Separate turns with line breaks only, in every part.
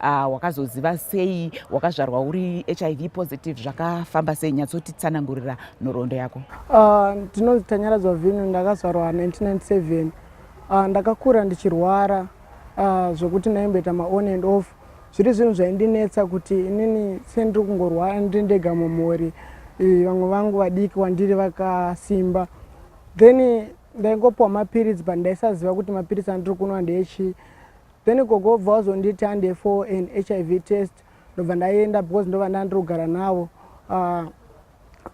Ah, wakazoziva sei wakazvarwa uri hiv positive zvakafamba sei nyatsotitsanangurira nhoroondo yako ah, ndinonzi
tanyaradzwa vinu ndakazvarwa 1997 ah, ndakakura ndichirwara zvekuti ndaimboita maon and off zviri zvinhu zvaindinetsa kuti inini sendiri kungorwara ndiri ndega mumhuri vamwe vangu vadiki wandiri vakasimba then ndaingopiwa mapiritsi but ndaisaziva kuti mapiritsi andiri kunwa ndeechii Then gogo vobva vazonditi hande for an hiv test ndobva ndaienda because ndova ndandiri kugara navo uh,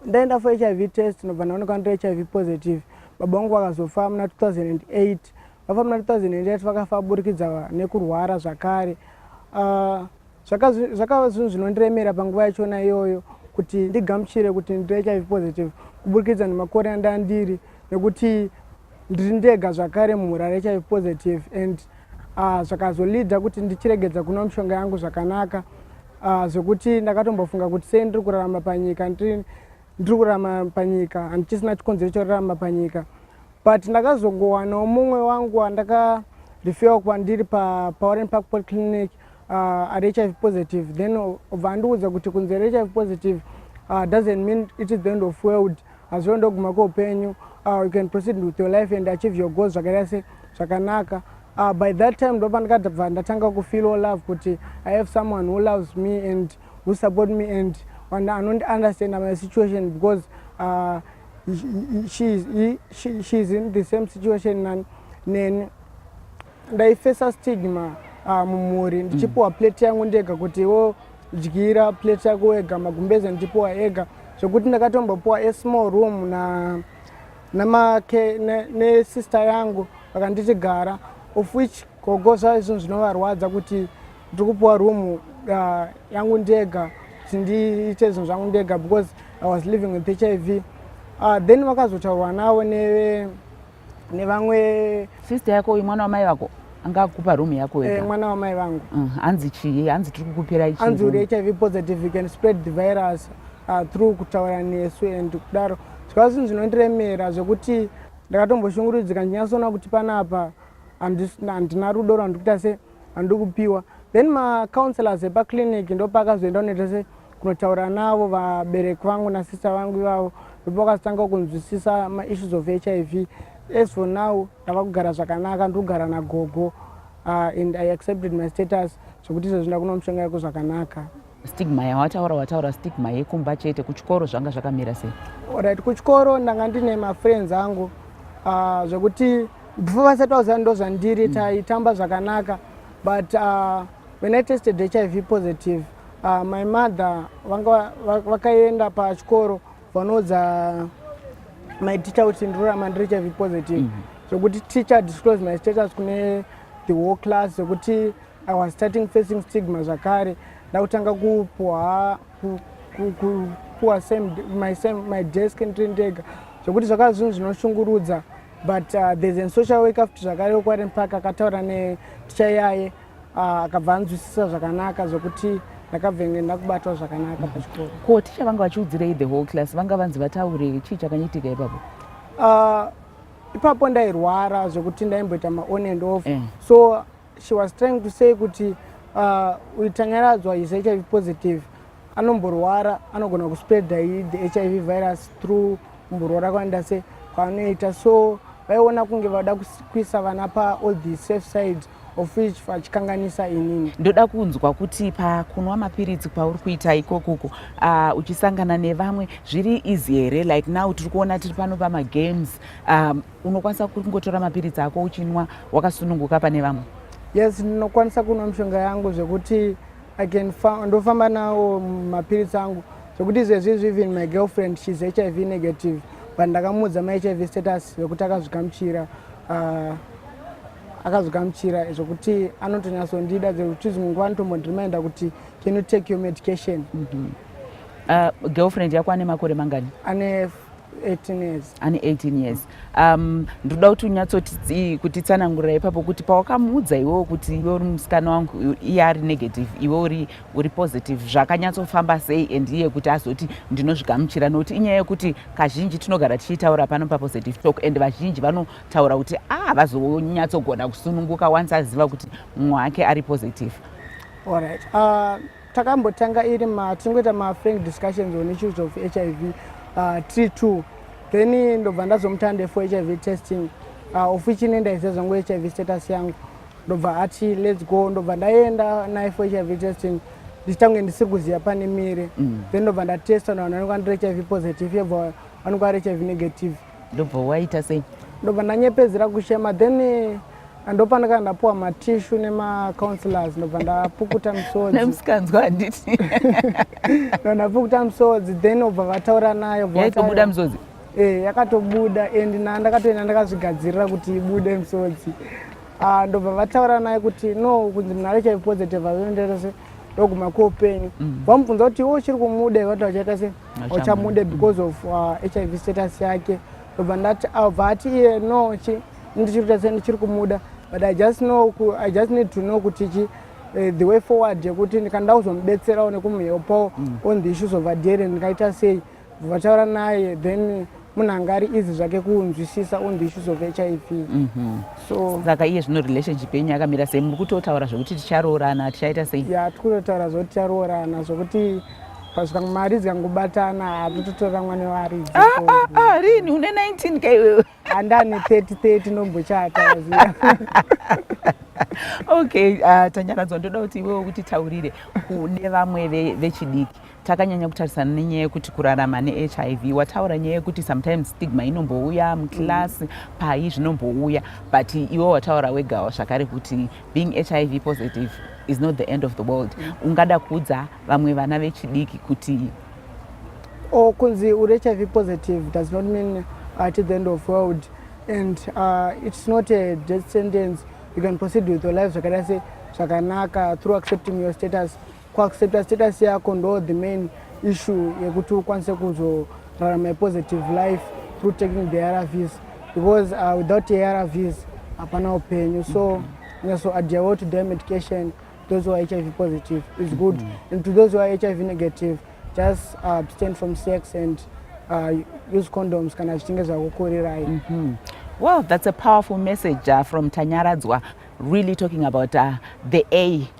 ndaenda for hiv test ndobva ndaonekwa ndiri hiv positive baba vangu vakazofa muna 2008 vafa muna 2008 vakafa burikidza nekurwara zvakare uh, zvakava zvinhu zvinondiremera panguva yachona iyoyo kuti ndigamuchire kuti ndiri hiv positive kuburikidza nemakore andandiri nekuti ndiri ndega zvakare mumhuri ari hiv positive and ah, zvakazolida kuti ndichiregedza kunwa mishonga yangu zvakanaka ah, zvekuti ndakatombofunga kuti sei ndiri kurarama panyika ndiri kurarama panyika handichisina chikonzero chorarama panyika but ndakazongowanawo mumwe wangu andaka referwa kwandiri paoren park polyclinic uh, ari hiv positive then obva andiudza kuti kunzi ari hiv positive uh, doesn't mean it is the end of world hazviwe ndoguma kweupenyu uh, you can proceed with your life and achieve your goals zvakaita se zvakanaka uh, by that time ndopa ndikabva ndatanga kufeel all love kuti i have someone who loves me and who support me and anondi understand my situation because uh, she, she, she is in the same situation nani ndaifesa stigma ah, mumhuri mm. ndichipiwa plate yangu ndega kuti iwo dyira plate yako wega magumbeze ndichipiwa ega zvekuti ndakatombopiwa asmall room na namake nesister ne yangu vakanditi gara of which gogo zvaa izvinhu zvinovarwadza kuti ndiri kupiwa room uh, yangu ndega kuti ndiite zvinhu zvangu ndega because i was living with h i v uh, then vakazotaurwa navo neve nevamwe sister yako uyu mwana
wamai vako anga akupa room yako eh, mwana wamai vangu mm,
hanzi chii
hanzi tiri kukupira ichi hanzi uri hiv positive
you can spread the virus uh, through kutaura nesu and kudaro zvikava zvinhu zvinondiremera zvekuti ndakatomboshungurudzika ndinyasoona kuti panapa handina rudo rwandikuita se handikupiwa then macounselors epaclinic ndopakazoenda unoita se kunotaura navo vabereki vangu nasista vangu ivavo ndipo vakatanga kunzwisisa maissues of hiv as for now ndava kugara zvakanaka ndiri kugara nagogo uh, and i accepted my status zvekuti izvezvi ndakuno mushonga yako zvakanaka stigma yawataura
wataura stigma yekumba chete kuchikoro zvanga zvakamira sei orit kuchikoro
ndanga ndine mafriends angu uh, zvekuti before vasati vaziva ndo zvandiri mm. taitamba zvakanaka but uh, when i tested hiv positive Uh, my mother vanga vakaenda pachikoro vanoudza my teacher kuti ndirurama ndiri hiv positive mm -hmm. zvokuti teacher disclose my status kune the whole class zvokuti i was starting facing stigma zvakare ndakutanga kupuwa kupuwa same my same my desk ndiri ndega zvokuti zvakava zvinhu zvinoshungurudza but uh, there's a social work after zvakare wekwarempaka akataura neticha yaye Ah, akabva anzwisisa zvakanaka zvekuti ndakabva inge ndakubatwa zvakanaka mhm. pachikoro ko ticha vanga vachiudzirei
the whole class vanga vanzi vataure chii chakanyitika ipapo ah, ipapo
ndairwara zvekuti ndaimboita maon and off eh. so she was trying to say kuti ah, uitanyaradzwa is hiv positive anomborwara anogona kuspreada the hiv virus through kumborwara kwanoita se kwanoita so vaiona kunge vada kuisa vana paall the safe sides of which vachikanganisa inini ndoda kunzwa kuti
pakunwa mapiritsi kwauri kuita ikokuko uh, uchisangana nevamwe zviri easy here like now tiri kuona tiri pano pamagames um, unokwanisa kungotora mapiritsi ako uchinwa wakasununguka
pane
vamwe yes
ndinokwanisa kunwa
mishonga
yangu zvekuti ndofamba nawo mapiritsi angu zvekuti izvezvizvi even my girlfriend shes hiv negative but ndakamuudza mahiv status vekuti akazvikamuchira uh, akazogamuchira zvokuti anotonyasondida zvekuti zvimwe nguva anotombondimainda kuti can you take your medication mm -hmm. uh, girlfriend
yako ane makore mangani ane 18
years ane 18 years
um, ndoda kuti unyatsoti kutitsanangurira ipapo kuti pawakamuudza iwewo kuti iwe uri musikana wangu iye ari negative iwe uri, uri positive zvakanyatsofamba sei and iye kuti azoti ndinozvigamuchira nokuti inyaya yekuti kazhinji tinogara tichitaura pano papositive talk and vazhinji vano taura kuti havazonyatsogona ah, kusununguka once aziva kuti mumwe wake ari positive allright uh,
ah, takambotanga iri ma tingoita mafrank discussions on issues of hiv uh, tiri two then ndobva ndazomutande for hiv testing uh, of which ine ndaiziva zvangu hiv status yangu ndobva ati lets go ndobva ndaenda naye for hiv testing ndichitange ndisiri kuziva pane mire mm. then ndobva ndatesta navanhu vanenge andiri hiv positive yebva vanenge ari hiv negative ndobva waita
sei ndobva ndanyepedzera kuchema
then eh, ndopandaka ndapuwa matishu nemacounselors ndobva ndapukuta misodzimusikanzwa handiti
no
ndapukuta misodzi then obva vataura nayo yaitobuda misodzi
e yakatobuda
and na ndakatoenda ndakazvigadzirira kuti ibude misodzi ah, ndobva vataura naye kuti no kunzi munhu ari chaipositive avenderese ndoguma kuopenyu mm. vamubvunza kuti iwo uchiri kumuda iwati achaita sei ochamude because of uh, hiv status yake ndobva ndati abva ati iye no chi ndichiri kuita sei ndichiri kumuda but i just know i just need to know kuti chi eh, the way forward yekuti ndikanda kuzomubetserawo nekumuhelpawo mm. on the issues of adherent ndikaita sei vataura naye then munhu anga ari easy zvake kunzwisisa on the issues of hiv mhm. so saka iye zvino
relationship yenyu yakamira sei muri kutotaura zvekuti ticharoorana tichaita sei ya tikutotaura zvekuti
ticharoorana zvekuti pasvika mari dzikangobatana hatototora mwana waaridzi ah, ah, ah, rini
une 19 ka iwewe handani 30 30
nombochata
okay tanyaradzwa ndoda kuti iwewe kuti taurire kune vamwe vechidiki takanyanya kutarisana nenyaya yekuti kurarama nehiv wataura nyaya yekuti sometimes stigma inombouya muclass mm. pai zvinombouya but iwe wataura wegawo zvakare kuti being hiv positive is not the end of the world mm. ungada kuudza vamwe vana vechidiki kuti or
kunzi uri hiv positive does not mean at the end of world and uh, it's not a death sentence you can proceed with your life zvakadai se zvakanaka through accepting your status Kuaccepta status yako ndo the main issue yekuti ukwanise kuzorarama positive life through taking the arvs because uh, without arvs hapana upenyu so nyaso adya well to their medication those who are hiv positive is good mm -hmm. and to those who are hiv negative just uh, abstain from sex and uh, use condoms kana zvichinge zvakukurirai mm -hmm. well
that's a powerful message uh, from tanyaradzwa really talking about uh, the a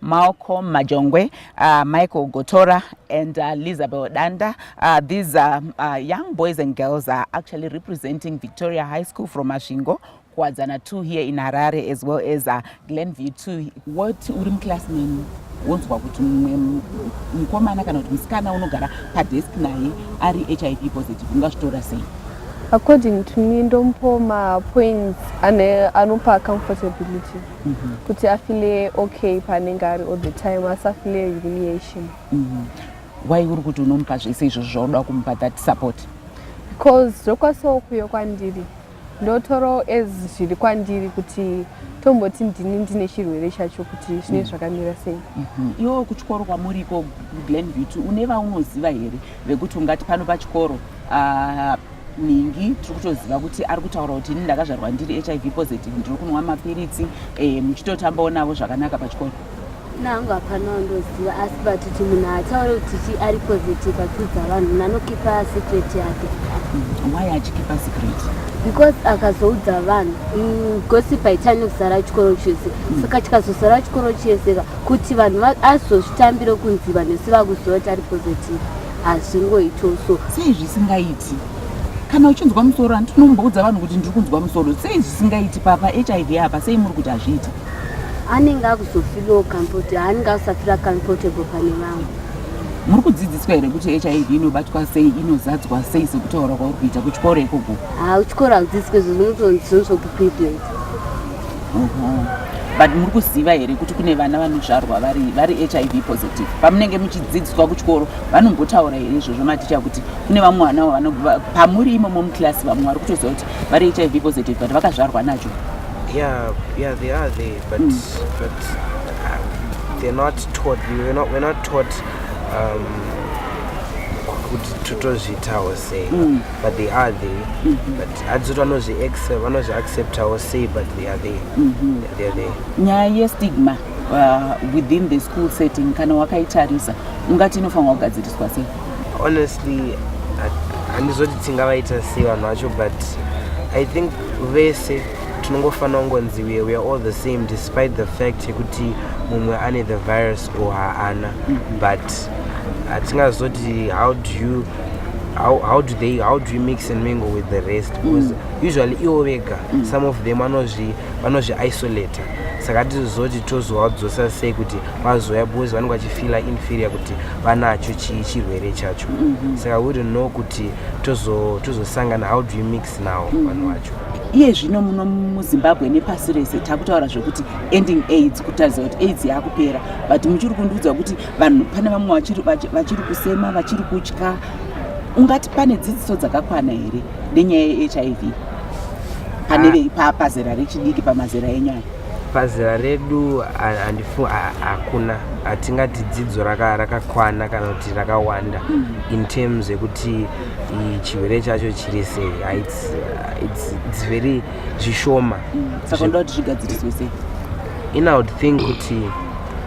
Malcolm Majongwe, uh, Michael Gotora, and uh, Lizabel Danda. Uh, these uh, uh, young boys and girls are actually representing Victoria High School from Masvingo, Kwadzana 2 here in Harare, as well as uh, Glenview 2. What Urim class mean? wonzwa kuti mumwe mukomana kana kuti musikana unogara padesk naye ari hiv positive ungazvitora sei according
to me ndomupoma points anopa comfortability mm -hmm. kuti afile okay paanenge ari all the time asafile humiliation mm -hmm.
why uri kuti unomupa zvese izvozvo zvauda kumupa that support because
zvokwasawo kuyo kwandiri ndotoro as zviri kwandiri kuti tomboti ndini ndine chirwere chacho kuti zvine mm. zvakamira sei mm-hmm. iwo kuchikoro
kwamuri iko glen beauty une vaunoziva here vekuti ungati pano pachikoro ah, nhingi tiri kutoziva kuti ari kutaura kuti ini ndakazvarwa ndiri hiv positive ndiri kunwa mapiritsi eh, muchitotambawo navo zvakanaka pachikoro nangu
hapana wandoziva asi but kuti munhu haataure kuti chi ari positive achiudza vanhu munhu anokipa secret yake hmm, why
achikipa secret because
akazoudza vanhu hmm, gosip haitani kusara chikoro chese hmm. saka chikazosara chikoro chese ka kuti vanhu azozvitambiro kunzi vanhu vese vakuziva kuti ari positive hazvingoitwo so sei zvisingaiti
kana uchinzwa musoro handi tinomboudza vanhu kuti ndiri kunzwa musoro sei zvisingaiti papa hiv apa sei muri kuti hazviiti anenge
akuzofirawo comfortable anenge akusafira comfortable pane vamwe muri
kudzidziswa here kuti hiv inobatwa sei inozadzwa sei sekutaura kwauri kuita kuchikoro ikoko ha kuchikoro hakudzidziswe
zvo zvinotonzonzwa kuprivilet
but muri kuziva here kuti kune vana vanozvarwa vari, vari hiv positive pamunenge muchidzidziswa kuchikoro vanombotaura here izvozvo maticha kuti kune vamwe vana vanobva pamuri imomo muclass vamwe vari kutoziva kuti vari hiv positive but vakazvarwa nacho yeah,
yeah, they are there, but, mm. but uh, they're not taught we're not, we're not taught um, kutozvitawo sei mm. but they are there mm -hmm. but hadzoti vanozvi vanozvi acceptawo sei but they are there mm -hmm. they are there nyaya yestigma
uh, within the school setting kana wakaitarisa ungati inofanirwa kugadziriswa sei honestly
handizoti tingavaita sei vanhu vacho but i think vese tinongofanira kungonzi we are all the same despite the fact yekuti mumwe ane the virus or haana mm -hmm. but hatingazoti how do you how, how do they how do you mix and mingle with the rest mm. because mm. usually iwo vega mm. some of them vanozvi vanozvi isolate saka tizozoti tozowadzosa sei kuti vazouya because vanenge vachifila inferior kuti vanacho chii chirwere chacho mm -hmm. saka we don't know kuti tozosangana how do you mix now mm-hmm. vanhu mm -hmm. vacho iye zvino muno
muzimbabwe nepasi rese takutaura zvekuti ending aids kutaridza kuti aids yakupera but muchiri kundiudza kuti vanhu pane vamwe vachiri, vachiri, vachiri kusema vachiri kutya ungati pane dzidziso dzakakwana here nenyaya yehiv pane ah. veipa pazera rechidiki pamazera enyaya pazera redu
handifu hakuna hatingati dzidzo rakakwana kana kuti rakawanda hmm. in terms yekuti chirwere chacho chiri sei ah, its very zvishoma hmm. saka ndoda kuti
zvigadziriswe sei in i would
think kuti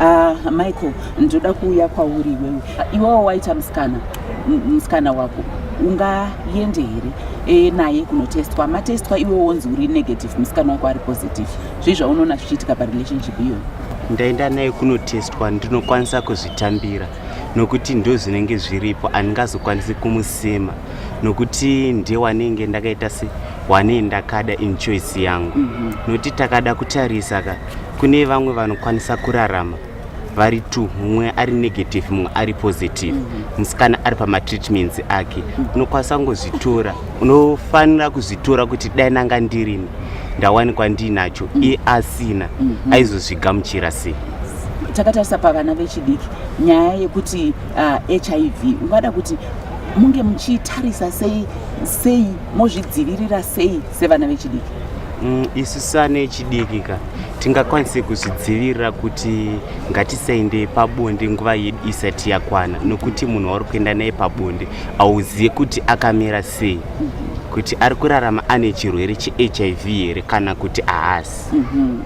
Ah,
Michael, ndoda kuuya kwauri iwewe. Iwewo waita musikana, musikana wako ungaende here e, naye kunotestwa matestwa iwe wonzi uri negative musikana wako ari positive zvii zvaunoona zvichiitika parelationship iyoyo ndaenda naye
kunotestwa ndinokwanisa kuzvitambira nokuti ndo zvinenge zviripo andingazokwanisi kumusema nokuti ndiye wanenge ndakaita se wane ndakada inchoice yangu mm -hmm. nokuti takada kutarisa ka kune vamwe vanokwanisa kurarama vari two mumwe ari negative mumwe ari positive mhm. musikana mm -hmm. ari pamatreatments ake mhm. unokwanisa mm -hmm. kungozvitora unofanira kuzvitora kuti dai nanga ndirini ndawanikwa ndiinacho mm -hmm. iye asina mm -hmm. aizozvigamuchira sei takatarisa
pavana vechidiki nyaya yekuti uh, hiv ungada kuti munge muchitarisa sei sei mozvidzivirira sei sevana vechidiki mm, isu
sana echidiki ka tingakwanise kuzvidzivirira kuti ngatisaende pabonde nguva yedu isati yakwana nokuti munhu wauri kuenda naye pabonde auzive kuti akamira sei mm -hmm kuti ari kurarama ane chirwere chehiv here kana kuti ahasi mhm.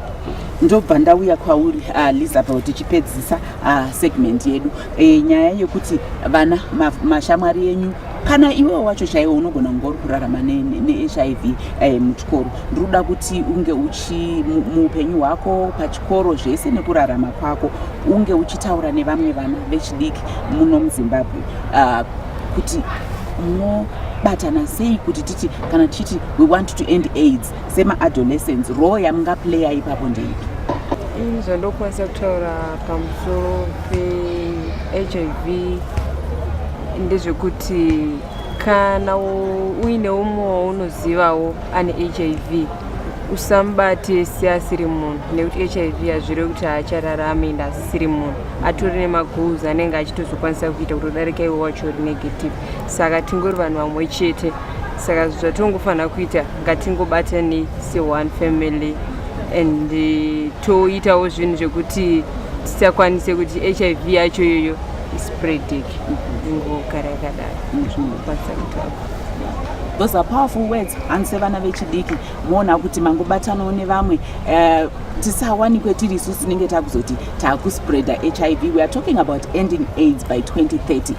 ndobva ndauya kwauri ah, lizabel tichipedzisa ah, segment yedu eh, nyaya yekuti vana mashamwari enyu kana iwe wacho chaiwo unogona kunge uri kurarama nehiv eh, muchikoro ndiri kuda kuti unge uchi muupenyu hwako pachikoro zvese nekurarama kwako unge uchitaura nevamwe vana vechidiki muno muzimbabwe ah, kuti munobatana sei kuti titi kana tichiti we want to end aids semaadolescence role yamungaplaya ipapo ndeipi ini zvandokwanisa
kutaura pamusoro pehiv ndezvekuti kana uine umwe waunozivawo ane hiv usamubate seasiri munhu nekuti hiv hazvire kuti haachararame ende asisiri munhu atori nemagoals anenge achitozokwanisa kuita kutodarika iwe wacho uri negative saka tingori vanhu vamwe chete saka zvatongofanira kuita ngatingobatanei seone family and eh, toitawo zvinhu zvekuti tisakwanise kuti hiv yacho iyoyo ispreading ingogara yakadaro zvinokwanisa kutapa those
are powerful words hanzi sevana vechidiki moona kuti mangobatanawo nevamwe eh, tisawanikwe tiri isu tinenge takuzoti takuspreader hiv weare talking about ending aids by 2030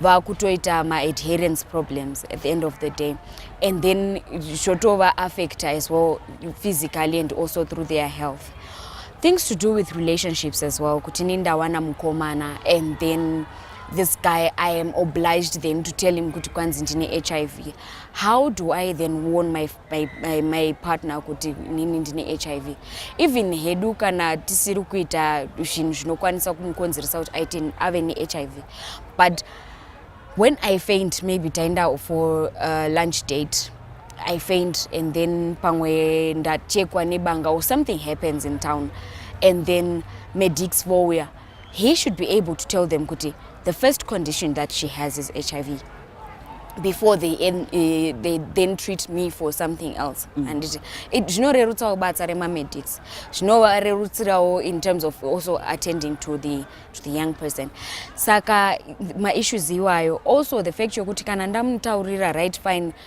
vakutoita maadherence problems at the end of the day and then zvotova affecta as well physically and also through their health things to do with relationships as well kuti ni ndawana mukomana and then this guy i am obliged then to tell him kuti kwanzi ndine hiv how do i then warn my by, by my partner kuti nini ndine hiv even hedu kana tisiri kuita zvinhu zvinokwanisa kumukonzeresa kuti aite ave nehiv but when i faint maybe taenda for uh, lunch date i faint and then pamwe ndachekwa nebanga or something happens in town and then medics vouya he should be able to tell them kuti the first condition that she has is hiv before they, en, uh, they then treat me for something else mm. and zvinorerutsawo basa remamedics zvinovarerutsirawo in terms of also attending to the, to the young person saka maissues iwayo also the fact yokuti kana ndamutaurira right fine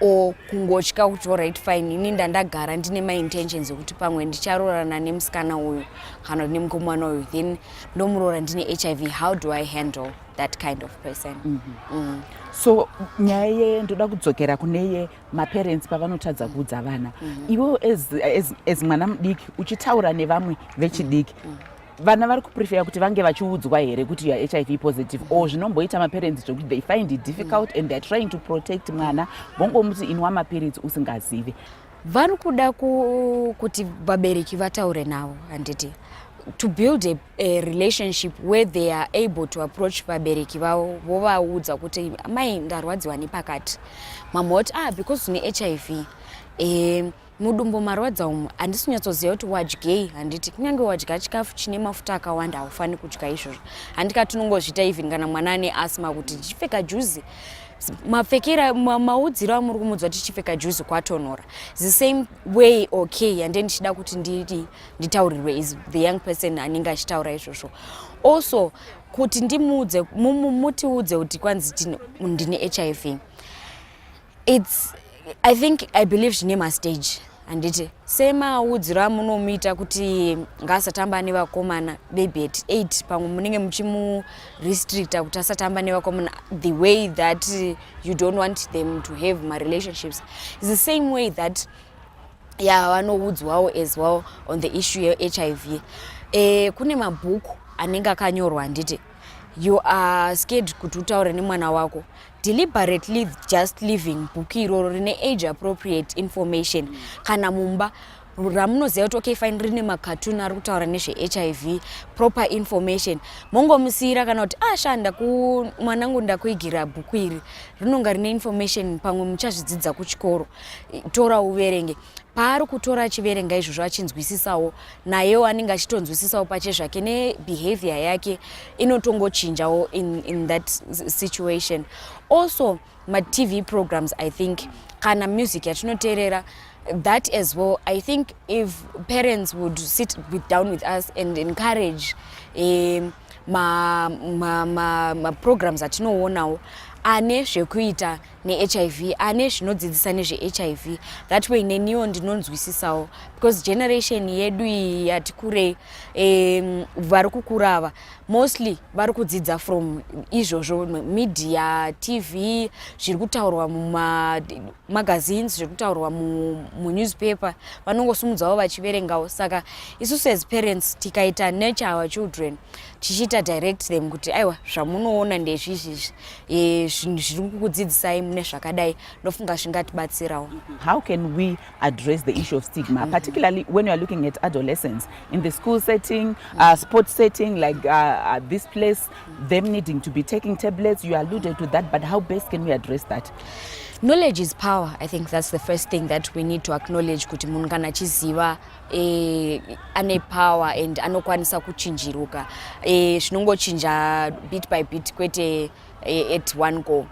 or kungotya kuti orit fine ini ndandagara ndine maintentions ekuti pamwe ndicharoorana nemusikana uyu kana kuti nemukomana uyu then ndomuroora ndine hiv how do i handle that kind of person mm -hmm. mm. so
nyaya ye ndoda kudzokera kune ye maparents pavanotadza kuudza vana mm -hmm. iwewo as, as, as mwana mudiki uchitaura nevamwe vechidiki mm -hmm. vana vari kuprefera kuti vange vachiudzwa here kuti youare hiv positive or zvinomboita maparents zvekuti they find it difficult and theyare trying to protect mwana vongomuti inwa mapiritsi usingazive vari kuda
kuti vabereki vataure navo handiti to build a, a relationship where they are able to approach vabereki vavo vovaudza kuti mai ndarwadziwa nepakati mamwe voti ah because une hiv um Mudumbu marwadza umu handisi kunyatsoziva kuti wadyei handiti kunyange wadya chikafu chine mafuta akawanda haufani kudya izvozvo handika tinongozviita even kana mwana ane asma kuti ndichipfeka juzi mapfekera maudziro amuri kumudzwa kuti chipfeka juzi kwatonhora the same way okay yande ndichida kuti nditi nditaurirwe is the young person anenge achitaura izvozvo also kuti ndimuudze mutiudze kuti kwanzi ndine hiv its i think i believe zvine mastage handiti semaudziro amunomuita kuti ngaasatamba nevakomana baby at eight pamwe munenge muchimurestricta kuti asatamba nevakomana the way that you don't want them to have marelationships is the same way that ya vanoudzwawo as well on the issue yehiv e, eh, kune mabhuku anenge akanyorwa handiti you are scared kuti utaure nemwana wako deliberate leave just living book iroro rine age appropriate information kana mumba ramunoziva kuti okay fine rine macatun ari kutaura nezvehiv proper information mongomusiyira kana kuti ashanda ah, kumwanangu ndakuigira bhuku iri rinonga rine information pamwe muchazvidzidza kuchikoro tora uverenge paari kutora achiverenga izvozvo achinzwisisawo nayewo anenge achitonzwisisawo pache zvake nebehavior yake inotongochinjawo in, in that situation also matv programs i think kana music yatinoteerera that as well i think if parents would sit with down with us and encourage um, maprograms ma, ma, ma atinoonawo ane zvekuita nehiv ane zvinodzidzisa nezvehiv that way neniwo ndinonzwisisawo because generation yedu iyi yati kurei um, vari kukura ava mostly vari kudzidza from izvozvo media tv zviri kutaurwa muma magazines zviri kutaurwa munewspaper vanongosumudzawo vachiverengawo saka isusu as parents tikaita nature our children tichiita direct them kuti aiwa zvamunoona ndezvizvizvi e, zvinhu zviri kukudzidzisai mune zvakadai ndofunga zvingatibatsirawo how can we
address the issue of stigma mm-hmm. particularly when youare looking at adolescence in the school setting uh, sport setting like uh, uh, this place them needing to be taking tablets you alluded to that but how best can we address that knowledge is
power i think that's the first thing that we need to acknowledge kuti munhu kana achiziva eh, ane power and anokwanisa kuchinjiruka eh, zvinongochinja eh, bit by bit kwete eh, at one go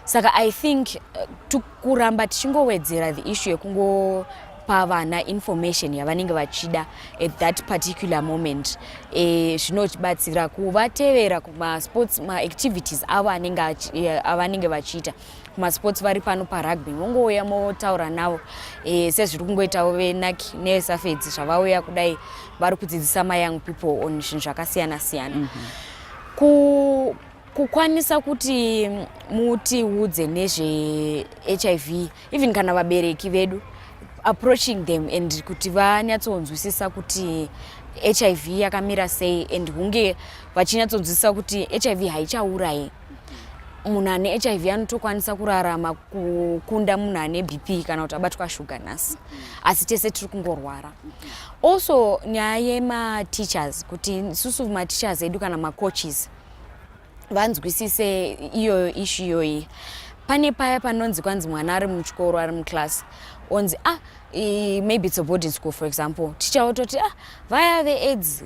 saka i think uh, to kuramba tichingowedzera the issue yekungopa vana information yavanenge vachida at that particular moment eh, zvinotibatsira kuvatevera kumasports maactivities avo eh, avanenge vachiita kumasports vari pano parugby mongouya motaura navo eh, sezviri kungoitawo venaki nevesafedzi zvavauya kudai vari kudzidzisa mayoung people on zvinhu zvakasiyana siyana mm -hmm. kukwanisa kuti mutiudze nezvehiv even kana vabereki vedu approaching them and kuti vanyatsonzwisisa kuti hiv yakamira sei and hunge vachinyatsonzwisisa kuti hiv haichaurai munhu ane hiv anotokwanisa kurarama kukunda munhu ane bp kana kuti abatwa shuga nhasi asi tese tiri kungorwara also nyaya yemateachers kuti isusu mateachers edu kana macoaches mm. vanzwisise iyoyo ishu iyoyi pane paya panonzi kwanzi mwana ari muchikoro ari muclass onzi ah maybe it's a boarding school for example ticha ototi ah vaya veaids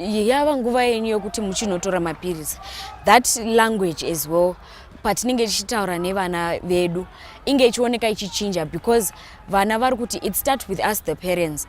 yava nguva yenyu yokuti muchinotora mapiritsi that language as well patinenge tichitaura nevana vedu inge ichioneka ichichinja because vana vari kuti it start with us the parents